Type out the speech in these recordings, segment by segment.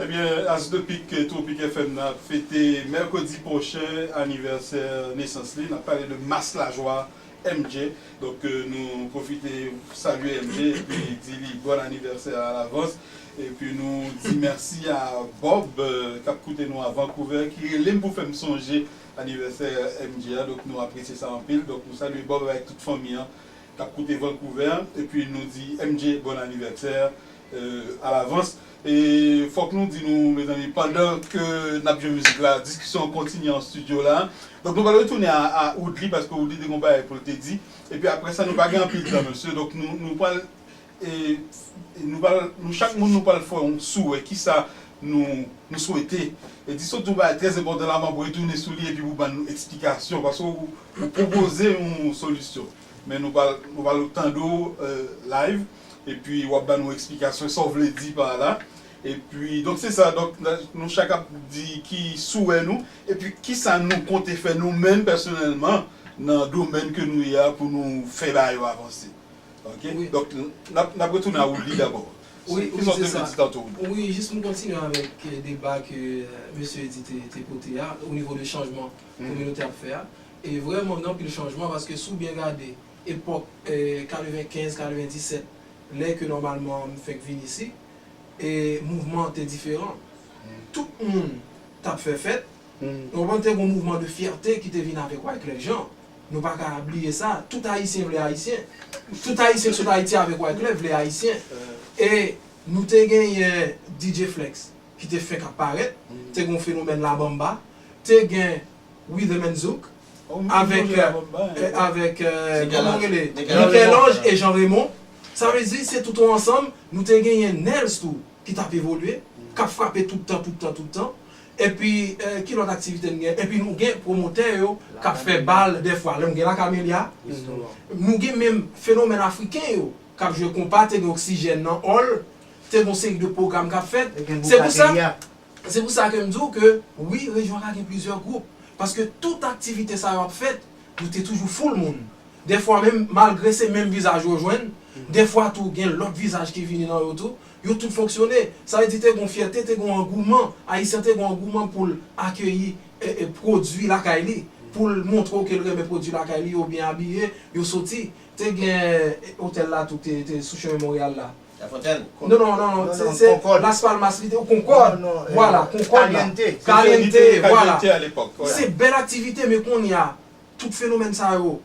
Ebyen As de pik Tropic FM nan ap fete mèkredi pwochen anivèsè nesans li. N ap pale de Mas Lajwa MJ. Donk nou pwofite salye MJ epi di li bòn anivèsè alavans. Epi nou di mèsi a Bob k ap koute nou a Vancouvè ki rele m pou fè m sonje anivèsè MJ a. Donk nou apresye sa anpil. Donk nou salye Bob avèk tout fanmi an k ap koute Vancouvè. Epi nou di MJ bòn anivèsè. alavans e fòk nou di nou mezanmi pandan ke nap jwe mizik la diskisyon an kontinye an studio la donk nou pral retounen a Woodly paske Woodly te gon bagay poul te di epi aprè sa nou pa gen anpil tan mesye donk nou pral nou chak moun nou pral fè yon souwè kisa nou swete di sot di yon bagay trè enpòtan la map retounen sou li epi pou bann nou eksplikasyon paske ou pwopoze yon solisyon. Men nou pral nou pral tande w live epi wap ba nou eksplikasyon sa w vle di pa la epi donk se sa donk nou chak ap di ki souwè nou epi kisa nou konte fè nou menm pèsonèlman nan domèn ke nou ye a pou nou fè bagay yo avanse ok donk nap nap retounen a Woodly dabò kisa w te vle di tanto Woodly. Wi jis pou kontinye avèk deba ke mesye Eddy te pote a onivo de chanjman kominotè ap fè a E vrèman gen anpil chanjman paske si w byen gade epòk 95, 97 lè ke nòmalman m fèk vin isi e mouvman an te diferan. Tout moun t ap fè fèt, ou konprann te gen yon mouvman de fyète ki te vin avèk Wyclef Jean, nou pa ka bliye sa, tout Ayisyen vle Ayisyen, tout Ayisyen k sot Ayiti avèk Wyclef vle Ayisyen e nou te genyen DJ Flex ki te fèk ap parèt, te gen yon fenomèn La Bamba, te gen Withem and Zouk avèk avèk kòman yo rele Michel-Ange et Jean Raymond sa vle di se tout on ansanm nou te genyen Nels tou ki tap evolye kap frape tout tan tout tan tout tan epi ki lòt aktivite nou gen epi nou gen pwomotè yo kap fè bal dèfwa lèm gen la Camellia nou gen menm fenomèn afriken yo kap jwe konpa te gen oksijèn nan Hall te gon seri de pwogram kap fèt se pou sa. Se pou sa ke m di w ke wi rejyon la gen plizyè gwoup, paske tout aktivite sa yo ap fèt, yo te toujou foul moun. Dèfwa menm, malgre se menm vizaj yo jwenn, dèfwa tou gen lòt vizaj ki vini nan yo tou, yo tout fonksyone. Sa vle di te gen yon fyète, te gen yon angouman, Ayisyen te gen yon angouman pou l akeyi pwodui lakay li, pou l montre w ke l renmen pwodui lakay li, yo byen abiye, yo soti. Te gen otèl la tou ki te sou chemen Monreyal la. La Fontaine? Non, non, non, non, se, se, Las Palmas li te, ou Concorde, voilà, Concorde la, Caliente, voilà, se bèl aktivite men kounye a, tout fenomèn sa yo,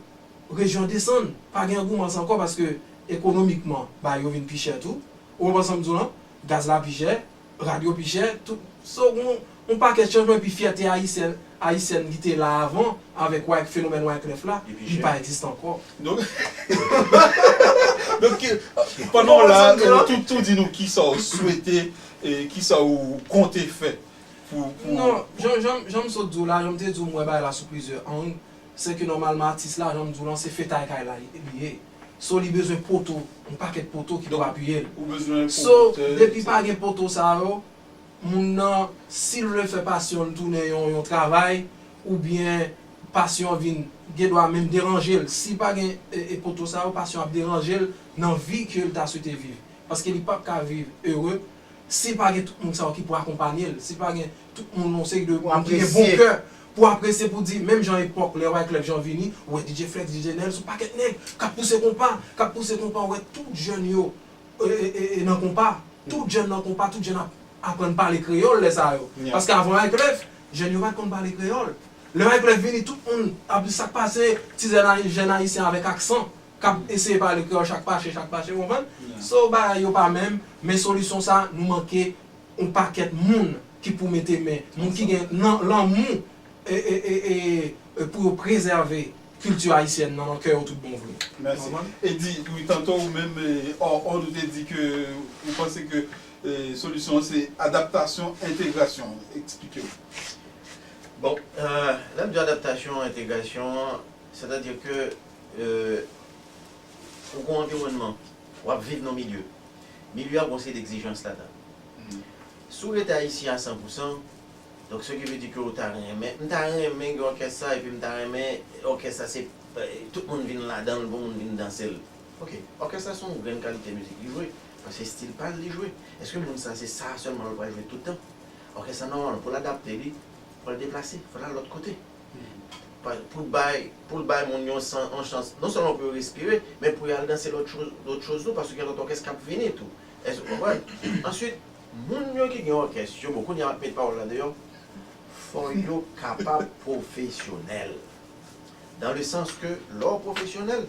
rejyon desann, pa gen angoumans ankò paske ekonomikman bagay yo vin pi chè tou, ou konprann sa m di w lan, gaz la pi chè. Rad yo pi chè, tout. So gon yon pakèt chanjman epi fyète ayisyen, ayisyèn ki te la avan avèk wyk fenomèn wyclef la, li pa egziste ankò. Donk donk ki pandan w la tou tou di nou kisa w swete e kisa w konte fè pou pou Non, jan jan jan m sot di w la, jan m te di w m wè bagay la sou plizyè ang, se ke nòmalman atis la jan m di w lan se fetay kay la li ye. So li bezwen poto, yon pakèt poto ki pou apiye l. So depi pa gen poto sa yo, moun nan si l vle fè pasyon l tounen yon travay oubyen pasyon vin gen dwa menm deranje l. Si pa gen poto sa yo, pasyon ap deranje l nan vi ke l ta swete viv. Paske li pap ka viv ere si pa gen tout moun sa yo ki pou akonpanye l, si pa gen Tout moun yon seri de moun ki gen bon kè pou apresye pou di menm jan epòk lè Wyclef Jean vini ou wè DJ Flex, DJ Nèl son pakèt nèg kap pouse konpa, kap pouse konpa ou wè tout jèn yo nan konpa, tout jèn nan konpa, tout jèn ap aprann pale kreyòl lè sa yo paske avan Wyclef jèn yo pat konn pale kreyòl lè Wyclef vini tout moun ap di sak pase ti jèn ayisyen avèk aksan kap eseye pale kreyòl chak fache chak fache ou konprann? So bagay yo pa menm men solisyon sa nou manke On pakèt moun ki pou mete men, moun ki gen nan lanmou pou yo prezève kilti ayisyèn nan nan kè yo tout bon vre. Mèsi. Eddy, wi tanto ou menm hors onde ou te di ke ou panse ke solisyon an se adaptasyon, entegrasyon. Eksplike w. Bon, lè m di adaptasyon, entegrasyon, sètadi ke ou gen yon anviwònman. W ap viv nan yon milye. Milye a gen yon seri d'egzijans ladan l. Si w rete Ayisyen a san pou san, donk se ki vle di ke w ta renmen, m ta renmen gen òkès sa epi m ta renmen òkès sa se tout moun vin ladan l pou moun vin danse l. Ok, òkès la se yon grenn kalite mizik li jwe, paske se stil pa l li jwe. Èske moun sa se sa sèlman l pral jwe tout tan? Òkès la nòmalman pou l adapte li, fò l deplase, fò l al lòt kote. Pou l bay moun yon chans non sèlman pou yo respire, men pou y al danse lòt choz tou paske gen lòt òkès k ap vini tou. Èske ou konprann? Ansuit, moun yo ki gen òkès yo, bon, kounye a m ap met pawòl la deyò, fò yo kapab pwofesyonèl. Dan le sans ke lè w pwofesyonèl,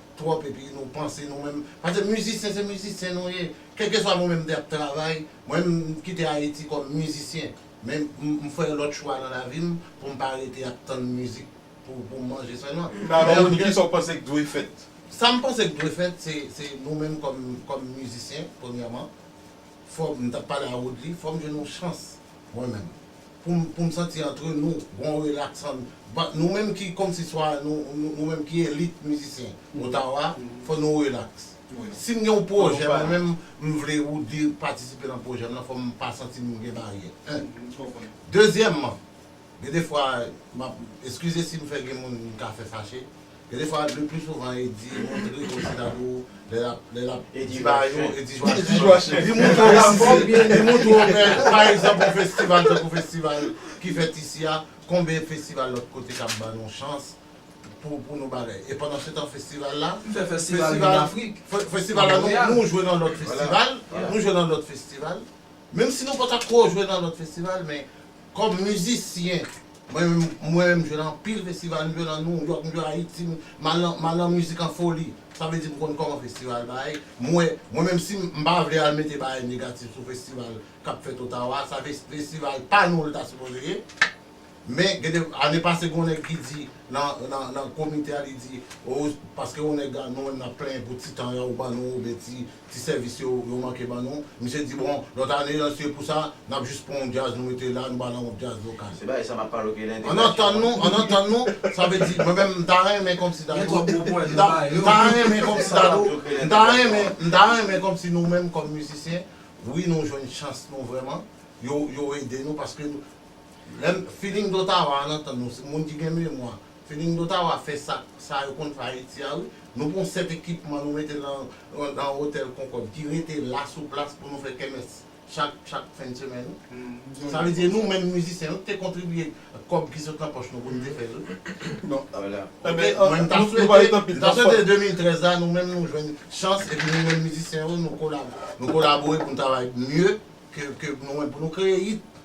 twòp epi nou panse nou menm pase mizisyen se mizisyen nou ye kèlkeswa mwen menm m te ap travay mwen m kite ayiti kòm mizisyen men m fè lòt chwa nan lavi m pou m pa rete ap tann mizik pou m manje sèlman alò menm kisa w panse k dwe fèt sa m panse k dwe fèt se nou menm kòm mizisyen premyèman fò m ta pale a woodly fò m jwenn yon chans. Mwen menm. Poum poum santi antre nou bon relax an nou menm ki kòmsi swa nou menm ki elit mizisyen Ottawa fò nou relax. Sim gen yon pwojè mwen menm m vle Roody patisipe nan pwojè m nan fòm pa santim gen baryè 1. Dezyèmman Gen de fwa map eskize sim fè gen moun mka fè fache, gen de fwa le plus souvent Eddy montre Oceano lè lap lè lap di ba yo Eddy Joachim li montre Oceano li montre yo fè pa egzanp yon festival tankou festival ki fèt isi a konbyen festival lòt kote kap ba nou chans pou pou nou bagay e pandan setan festival la festival festival la nou nou jwe nan lòt festival nou jwe nan lòt festival menm si nou pata ko jwe nan lòt festival men Kòm mizisyen, mwen menm mwen menm m jwe nan anpil festival, m jwe nan New York, m jwe Ayiti, m al nan m al nan mizik an foli. Sa vle di m konn kòman festival bay, m wè, mwen menm si m pa vle al mete bagay negatif sou festival k ap fèt Ottawa a, sa ve festival pa nou l ta sipoze ye. Men gen de ane pase gen yon nèg ki di nan nan nan komite a li di, o paske yon nèg a nou menm n ap plenyen pou ti tan an yo ban nou oubyen ti Ti sèvis yo, yo manke ban nou. Misye di bon, lòt ane an se pou sa, n ap jis pran yon djaz nou mete la, nou ba lan yon djaz lokal. Se bagay sa m ap pale w ke nan entèvansyon an. An antann nou, an antann nou, sa vle di mwen menm m ta renmen kòmsi Dadou. Gen twòp gwo pwen nou bay yo. M ta renmen kòmsi Dadou, m ta renmen, m ta renmen kòmsi nou menm kòm mizisyen, wi nou jwenn chans nou vrèman, yo, yo ede nou paske nou, lè m, feeling d'Ottawa an antann nou, moun ki gen memwa, Feeling d'Ottawa fè sak sa yo konn fè Ayiti a wi. Nou pran 7 ekipman nou mete lan lan Hotel Concorde ki rete la sou plas pou nou fè kèmès chak chak fen semèn wi. Sa vle di e nou menm mizisyen nou te kontribye kòb ki sot lan pòch nou pou nou te fè l wi. Ok mwen m ta swete m ta swete 2013 la nou menm nou jwenn chans epi nou menm mizisyen yo nou kolabo nou kolabore pou nou travay mye ke ke nou menm pou nou kreye hit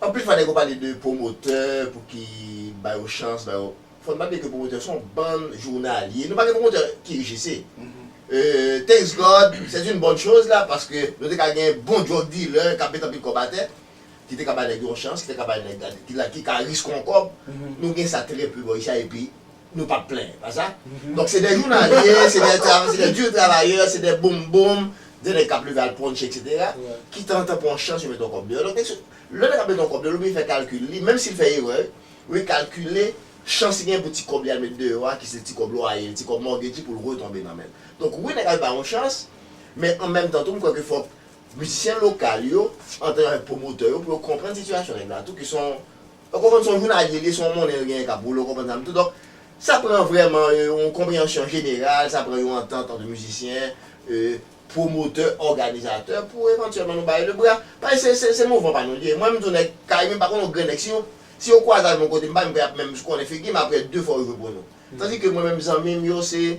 Anpil fwa nèg yo pale de pwomotè pou ki ba yo chans ba yo fòn pa bliye ke pwomotè son bann jounalye nou pa gen pwomotè ki UGC thanks God c'est une bonne chose la paske nou te ka gen bon drug dealer kap met anpil kòb atè ki te ka ba nèg yo yon chans ki te ka ba nèg ki ka risk yon kòb nou gen sa trè peu bò ici a epi Nou pap plenyen, pa sa? Donk se de jounalye, se de tra, se de dur travayè, se de boom boom, de nèg k ap leve al ponche eksetera, ki tanzantan pran yon chans yo mete yon kòb deyò. Donk mesye, lè nèg ap mete yon kòb deyò, l oblije fè kalkil li, menm si l fè erè, li kalkile chans li genyen pou ti kòb li al mete deyò a, ki se ti kòb lwaye li, ti kòb mòtgej li pou l retonbe nan men l. Donk wi nèg ap bay yon chans, men an menm tan tou m kwè ke fòk mizisyen lokal yo, antanke avèk pwomotè yo, pou yo konprann sitiyasyon nèg la tou, ke se yon Ou konprann se yon jounalye l ye, se yon monnen l genyen k ap woule, ou konprann sa m di. Donk, sa pran vrèman yon konpreyansyon jeneral, sa pran yon antant ant mizisyen, pwomotè, òganizatè pou evantyèlman nou bare lebra. Paske se se mouvman pa nou l ye. Mwen m di w nèg kay mwen m pa konn yon grenn nèg. Si si yo kwaze avè m yon kote m pa menm kwè y ap menm konnen figi m aprè de fwa yo jwe pou nou. Tandike mwen menm zanmi m yo se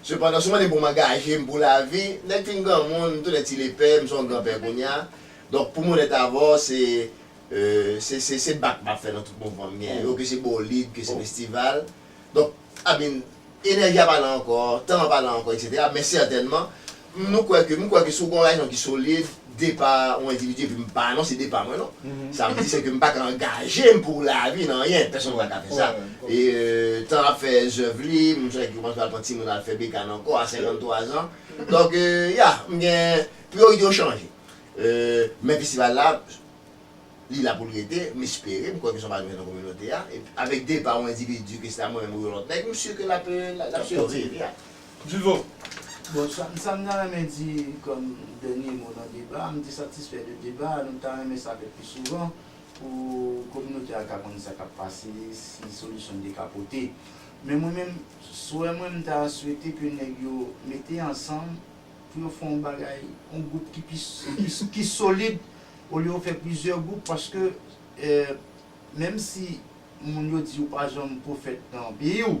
Sepandan, si w mande pou m angaje m pou lavi, nèk fin granmoun, m tounen ti lepè, m se yon granpè kounye a. Donk, pou m onèt avè w, se se se bak m ap fè nan tout mouvman m genyen yo, ke se bolid, ke se festival. Donk, I mean, enèji a pa la ankò, tan an pa la ankò, eksetera. Men sètènman, M nou kwè ke, m kwè ke si w gen yon rezon ki solid, depa yon endividi, epi m pa anonse depa mwen non, sa vle di se ke m pa ka angaje m pou lavi nan anyen, pèsonn pa ka fè sa. E tan ap fè zèv li, m sonje ki kòmanse al pran timoun al fè bekàn ankò a 53 zan. Donk, ya, m gen, priyorite yo chanje. E, men festival la, li la pou l rete, m espere, m kwè ke se yon bagay nou gen nan kominote a, epi avèk depa yon endividi, ke se ta mwen menm ou yon lòt nèg, m si ke l ap, l ap siviv, ya. Divo, Bon, sa m ta renmen di kòm dènye mo nan deba a, m te satisfè de deba a, nou ta renmen sa fèt pi souvan pou kominote a ka konn sa k ap pase, si solisyon n te ka pote. Men mwen menm, swè mwen m ta swete ke nèg yo mete ansanm pou yo fè yon bagay, yon gwoup ki pi ki solid olye yo fè plizyè gwoup paske menm si moun yo di ou pa janm pwofèt nan peyi w,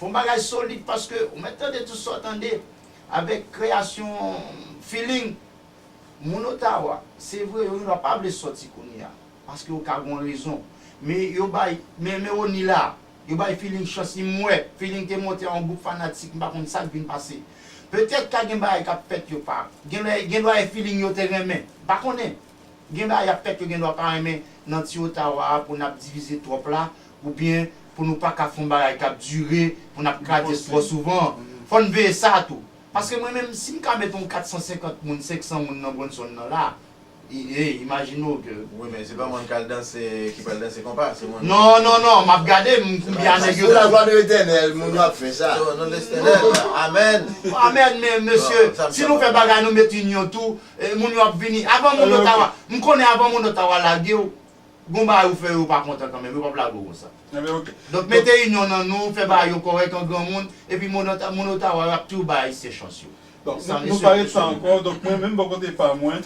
Fon bagay solid paske ou mèt tande tout sa w tande avèk kreyasyon Feeling. Moun Ottawa, se vre yo gendwa pa vle sòti kounye a paske yo ka gon rezon men yo bay men men Rony la yo bay Feeling chans li m wè Feeling te monte a yon gwoup fanatik m pa konn sa k vin pase petèt ka gen bagay k ap fèt yo pa gen lè gendwa e Feeling yo te renmen m pa konnen. Gen bagay yap fèt yo gen dwa pa renmen nan ti Ottawa a pou nap divize twòp la ou byen pou nou pa ka fon bagay kap dure pou nap kradyes twò souvan fò n veye sa tou paske mwen menm si m ka met on 450 moun 500 moun nan Bronson nan la e imajine w ke Wi men se pa moun kal danse ki pral danse konpa se moun Non non non map gade m konbyen a nèg yo Pou la glwa de Letènèl moun yo ap fè sa. Pou non de Letènèl amèn. Amèn men mesye si nou fè bagay nou met inyon tou. E moun yo ap vini avan moun yo ta wa m konnen avan moun yo ta wa lage w gon bagay ou fè yo pa kontan kanmenm yo pap lage w konsa donk mete inyon nan nou fè bagay yo kòrèk an granmoun epi moun yo ta wa yo ap toujou bay ayisyen chans yo nou pa ret sa ankò donk mwen menm bò kote pa mwen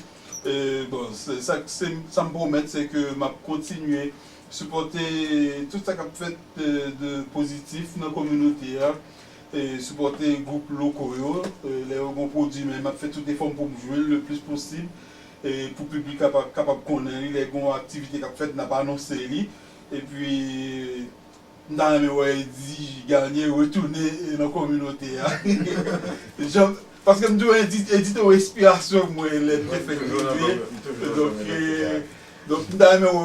bon sa m pwomèt se ke m ap kontinye sipòte tout sa k ap fèt de pozitif nan kominote a Sipòte gwoup loko yo lè yo gen yon pwodui men m ap fè tout efò m pou m jwe l le plis posib pou piblik la kapab konnen li lè gen yon aktivite k ap fèt n ap anonse li epi m ta renmen wè Eddy Garnier retounen nan kominote a jan paske m di w Eddy te yon enspirasyon mwen lè m te fèk rive donk. Donk m ta renmen wè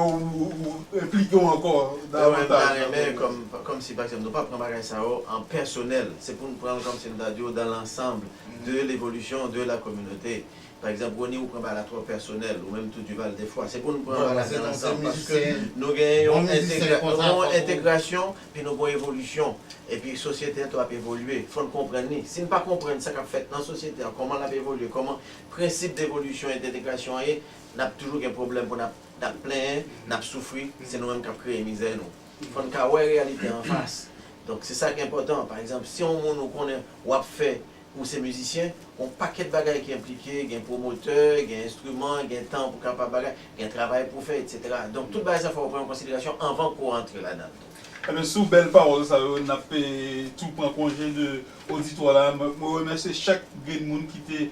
w enplike w ankò davantaj nan pwoblèm yo. Mwen ta renmen kòmsi pa egzanp nou pa pran bagay sa yo an pèsonèl, se pou n pran l kòmsi m ta di w dans l'ensemble de l'évolution de la communauté. Pa egzanp Rony ou pran bagay la twò pèsonèl, ou menm tou Duval defwa. Se pou n pran bagay la dans l'ensemble paske nou gen yon entegrasyon epi nou gen yon evolisyon epi sosyete an tou ap evolye. Fò n konprann li. Si n pa konprann sa k ap fèt nan sosyete an, kòman l ap evolye, kòman prensip devolisyon e dentegrasyon an ye, Nap toujou gen pwoblèm pou nap nap plenyen, nap soufri, se nou menm kap kreye mizè nou. Fòn ka wè reyalite an fas. Donk se sak enpòtan. Pa egzanp, si yon moun ou konnen wap fè ou se mizisyen, gon pakèt bagay ki enplike, gen pwomotè, gen enstriman, gen tan pou kapab bagay, gen travay pou fè etc. Donk tout bagay sa fòw pran an konsiderasyon anvan pouw rantre ladann tou. Ebyen sou bèl pawòl sa yo nap tou pran konje de oditwa la. Mwen remèsye chak grenn moun ki te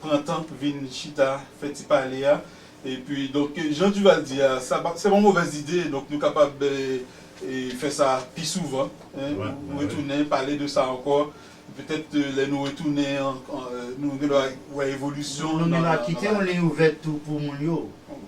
pran tan vin chita fè ti pale a epi donk jan Duval di a sa pa se pa yon movèz ide donk nou kapab fè sa pi souvan retounen pale de sa ankò petèt lè nou retounen nou gen dwa wè evolisyon. Nou menm ap kite yon liy ouvèt tou pou moun yo.